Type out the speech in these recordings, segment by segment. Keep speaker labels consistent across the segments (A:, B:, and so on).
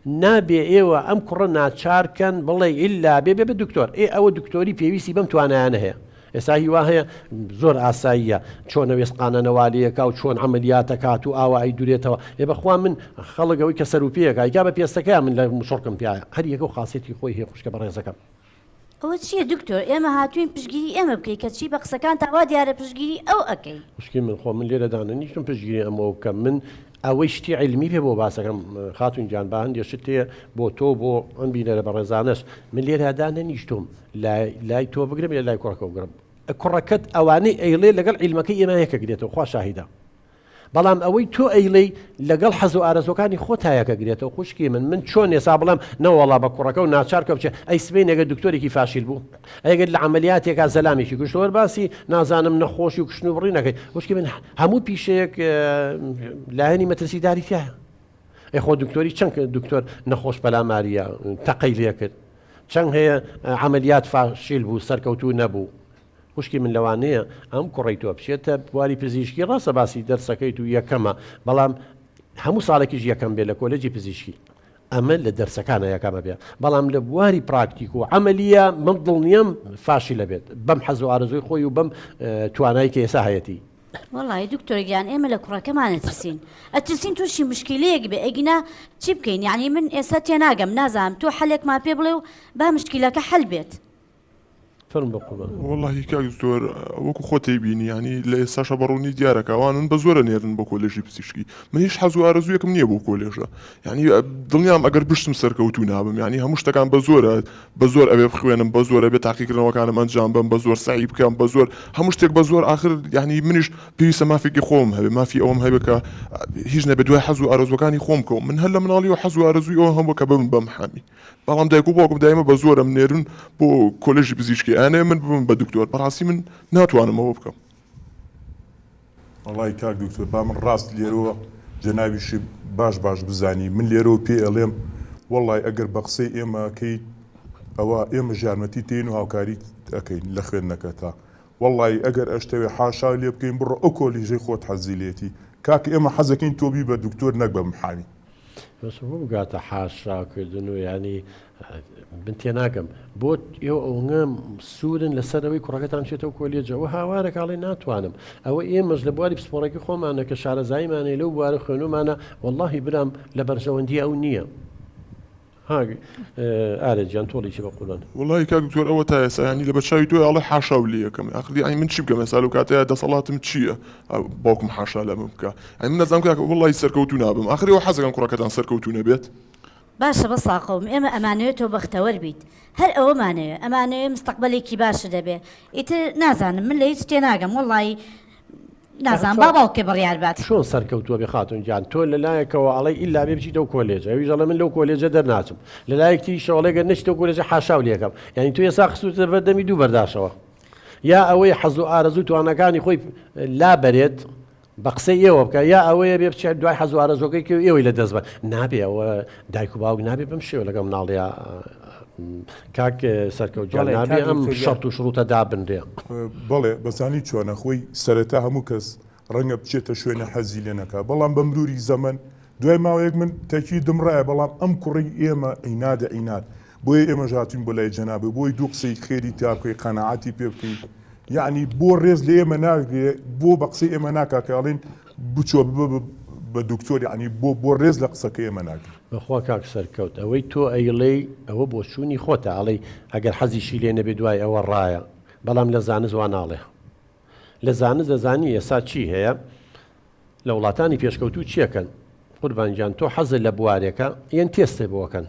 A: نابێ ئێوە ئەم کوڕە ناچار کەن بڵێ ئیلا بێ بێ دکتۆر ئێ ئەوە دکتۆری پێویستی بەم توانایانە هەیە ئێستا هی وا هەیە زۆر ئاساییە چۆنە وێسقانە نەوالەیەکا و چۆن عملیاتە کات و ئاوا ئەی دورێتەوە ئێ بەخوا من خەڵک ئەوەی کە سەروپێیەکە ئەیکا بە پێستەکەیان من لە مشڕکم پیاە هەر یەکە و خاسێتی خۆی هەیە خوشکە بەڕێزەکەم. ئەوە چیە
B: دکتۆر ئێمە هاتوین پشگیری ئێمە بکەی کەچی بە قسەکانتا وا دیارە پشگیری ئەو ئەکەی. خوشکی من خۆ من لێرە
A: دانەنیشتم پشگیری ئەم ئەو بکەم من ئەوەی شتی عیلمی پێ بۆ باسەکەم خاتون گیان با هەندێ شت هەیە بۆ تۆ بۆ ئەم بینەرە بەڕێزانەش من لێرە دانەنیشتوم لای لای تۆ بگرم یا لای کوڕەکە بگرم کوڕەکەت ئەوانەی ئەیڵێ لەگەڵ عیلمەکەی ئێمە یەکەک دێتەوە خوا شاهیدە بەڵام ئەوەی تۆ ئەیڵێی لەگەڵ حەزو ئارەزوەکانی خۆتایەکەگرێتەوە خوشکی من من چۆن ئێسا بڵێم نەوەڵا بە کوڕەکەو ناچار کە بچێ ئەی سبەینێ گەر دکتۆرێکی فاشیل بوو ئەگەر لە عەمەلیاتێکا زەلامێکی کوشت وەر باسی نازانم نەخۆشی و کوشتن و بڕی نەکەیت خوشکی من هەموو پیشەیەک لایەنی مەترسی داری تایە ئەی خۆ دکتۆری چەند دکتۆر نەخۆش پەلاماریە تەقەی لێکرد چەند هەیە عملیات فاشیل بوو سەرکەوتوو نەبوو خوشکی من لەوانەیە ئەم کوڕەی تۆ بچێتە بواری پزیشکی ڕاستە باسی دەرسەکەیت و یەکەمە بەڵام هەموو ساڵێکیش یەکەم بێت لە کۆلێجی پزیشکی ئەمە لە دەرسەکانە یەکەمە بێت بەڵام لە بواری پراکتیک و عملیە من دڵنیام فاشی لە بێت بەم حەز و ئارزوی خۆی و بەم توانای کە ئێسا هەیەتی وڵی دکتۆر
B: گیان ئێمە لە کوڕەکەمان ئەترسین ئەترسین تووشی مشکلەیەک بێ ئەگینا چی بکەین یعنی من ئێستا تێناگەم نازانم تۆ حەلێکمان پێ بڵێ و با مشکلەکە حل بێت.
C: وەڵاهی کاک دکتۆر وەکو خۆت ئەیبینی یانی لە ئێستاشا بە ڕوونی دیارە کە ئەوانن بە زۆر ئەنێرن بۆ کۆلێژی پزیشکی من هیچ حەز و ئارەزوویەکم نییە بۆ کۆلێژە یانی دڵنیام ئەگەر بشتم سەرکەوتوو نابم یانی هەموو شتەکان بە زۆرە بە زۆر ئەوێ بخوێنم بە زۆرە بێ تاقیکردنەوەکانم ئەنجام بم بە زۆر سەعی بکەم بە زۆر هەموو شتێک بە زۆر ئاخر یانی منیش پێویستە مافێکی خۆم هەبێ مافی ئەوەم هەبێ کە هیچ نەبێ دوای حەز و ئارەزوەکانی خۆم بکەوم من هەر لە مناڵیەوە حەز و ئارەزووی ئەوە هەبوو کە ببم بە محامی بەڵام دایک و باوکم دایمە بە زۆر ئەمنێرن بۆ کۆلێژی پزیشکی ئەیانەوێ من ببم بە دکتۆر بەڕاستی من ناتوانم ئەوە بکەم. وەڵای
D: کاک دکتۆر با من ڕاست لێرەوە جەنابیشی باش باش بزانی من لێرەوە پێ ئەڵێم وەڵای ئەگەر بە قسەی ئێمە ئەکەیت ئەوە ئێمە ژارمەتی تین و هاوکاریت ئەکەین لە خوێندنەکەتا وەڵای ئەگەر ئەشتەوێ حاشا لێ بکەین بڕۆ ئەو کۆلیژەی خۆت حەزی لێتی کاک ئێمە حەزەکەین تۆ بی بە دکتۆر نەک بە محامی. بەس بۆ بگاتە
A: حاشاکردن و یانی من تێناگەم بۆ ئێوە ئەوەنگە سوورن لەسەرەوەی کوڕەکەتان چێتەوە کۆلێجە ئەوە هاوارە کاڵی ناتوانم ئەوە ئێمەش لە بواری پسپۆڕێکی خۆمانە کە شارەزاییمانەی لەو بوارە خوێنمانە واللهی برام لە بەرژەوەندی ئەو نییە. ها ئارێ گیان تۆڵی چی بەقوربان. وەڵایی کاک دکتۆر ئەوە
C: تا ئێستا یانی لەبەرچاوی تۆی ئەڵێ حاشا و لێ ئەکەم ئاخر یانی من چی بکەم ئێستا لەو کاتەیا دەسەڵاتم چییە باوکم حاشا لەمن بکا یانی من نازانم کاکە وەڵایی سەرکەوتوو نابم ئاخر ئێوە حەزەکەن کوڕەکەتان سەرکەوتوو نەبێت؟ باشە بەس
B: ساقەوم ئێمە ئەمانەوێ تۆ بەختەوەر بیت هەر ئەوەمانەوێ ئەمانەوێ مستەقبەلێکی باشت هەبێ ئیتر نازانم من لە هیچ تێناگەم وەڵایی نازانم با باوکێ بڕیار بات. چۆن سەرکەوتووەبێ
A: خاتون گیان تۆ لەلایەکەوە ئەڵێی ئیلا بێ بچیتەوە کۆلێجە ئەویش ئەڵێ من لەو کۆلێجە دەرناچم لەلایەک تریشەوە ئەڵێ گەر نەچیتەوە کۆلێجە حاشاو لێکەم یانی تۆ ئێستا خستووتە بەر دەمی دوو بەرداشەوە یا ئەوەی حەز و ئارەزوو توانەکانی خۆی لابەرێت بە قسە ئێوە بکە یا ئەوەیە بێ بچێت دوای حەزوارەزۆکەی کە ئێوەی لە دەست بە نابێ ئەوە دایک و باوک نابێ بم شێوە لەگەم ناڵەیە کاک سەرکەوت گیان نابێ ئەم شەرت و شڕوتە دابنرێ. بەڵێ
D: بەزانی چۆنە خۆی سەرەتا هەموو کەس ڕەنگە بچێتە شوێنێ حەزی لێ نەکا بەڵام بە مروری زەمەن دوای ماوەیەک من تەکی دمڕایە بەڵام ئەم کوڕەی ئێمە عینادە عیناد بۆیە ئێمەش هاتوین بۆ لای جەنابی بۆی دوو قسەی خێری تیا بکەی قەناعەتی پێ بکەی یەعنی بۆ ڕێز لە ئێمە ناگرێ بۆ بە قسەی ئێمە ناکا کە ئەڵێن بچۆ ببە بە دکتۆر یەعنی بۆ بۆ رێز لە قسەکەی ئێمە ناگری. بەخوا کاک سەرکەوت
A: ئەوەی تۆ ئەیڵێی ئەوە بۆچوونی خۆتە ئەڵێی ئەگەر حەزیشی لێ نەبێ دوای ئەوە ڕایە بەڵام لە زانست وا ناڵێ لە زانست دەزانی ئێسا چی هەیە لە وڵاتانی پێشکەوتوو چیەکەن قوربان گیان تۆ حەزت لە بوارێکە یەن تێستێ بۆکەن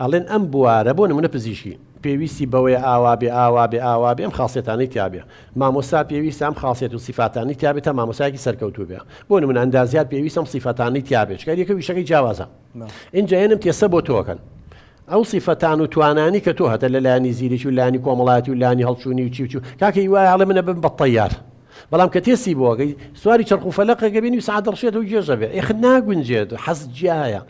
A: ئەڵێن ئەم بوارە بۆ نمونە پزیشکی پێویستی بەوەیە ئاوابێ ئاوابێ ئاوابێ ئەم خاسیەتانەی تیابێ مامۆستا پێویستە ئەم خاسیەت و سیفاتانی تیابێت تا مامۆسایەکی سەرکەوتوو بێ بۆ نمونە ئەندازیار پێویست ئەم سیفەتانی تیابێت چکە یەکە ویشەکەی جیاوازە ئینجا هێنم تێسە بۆ تۆکەن ئەو سیفەتان و توانانی کە تۆ هەتە لە لایانی زیرێکی و لانی کۆمەڵاتی و لانی هەڵچوونی و چیوچو کاکەی وایە هەڵێ منە بم بە تەیار بەڵام کە تێسی بۆگەی سواری چرخ و فەلەقەکە بینی و سعادڕشێت و گێژە بێ ئێخ ناگونجێت حەز جیایە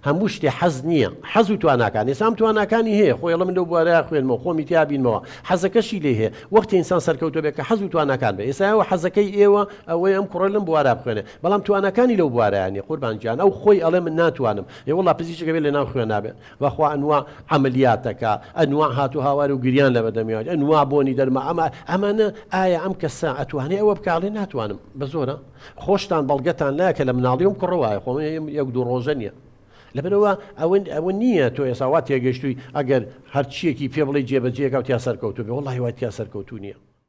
A: هەموو شتێ حەز نییە حەز و تواناکانە ئینسان تواناکانی هەیە خۆی ئەڵێ من لەو بوارەیا خوێنمەوە خۆمی تیا بینمەوە حەزەکەشی لێ هەیە وەختی ئینسان سەرکەوتوو بێ کە حەز و تواناکان بێ ئێستا ئێوە حەزەکەی ئێوە ئەوەیە ئەم کوڕە لەم بوارە بخوێنێ بەڵام تواناکانی لەو بوارەیا نیە قوربان گیان ئەو خۆی ئەڵێ من ناتوانم ئێ وەڵا پزیشکێ بێ لەناو خوێنا بێ بەخوا ئەنواع عەمەلیات دەکا ئەنواع هات و هاوار و گریان لە بەردەمی ئەنواع بۆنی دەرما ئەمە ئەمانە ئایا ئەم کەسە ئەتوانێ ئەوە بکا ئەڵێ ناتوانم بە زۆرە خۆشتان بەڵگەتان لایە کە لە مناڵی ئەم کوڕە وایە خۆ یەک دوو ڕۆژە نییە لەبەرەوە ئەوەن ئەوە نییە تۆ ئێسا وا تێگەشتووی ئەگەر هەرچیەکی پێ بڵی جێبەجێکە و تیا سەرکەوتو بێ وڵی وای تیا سەرکەوتو نییە.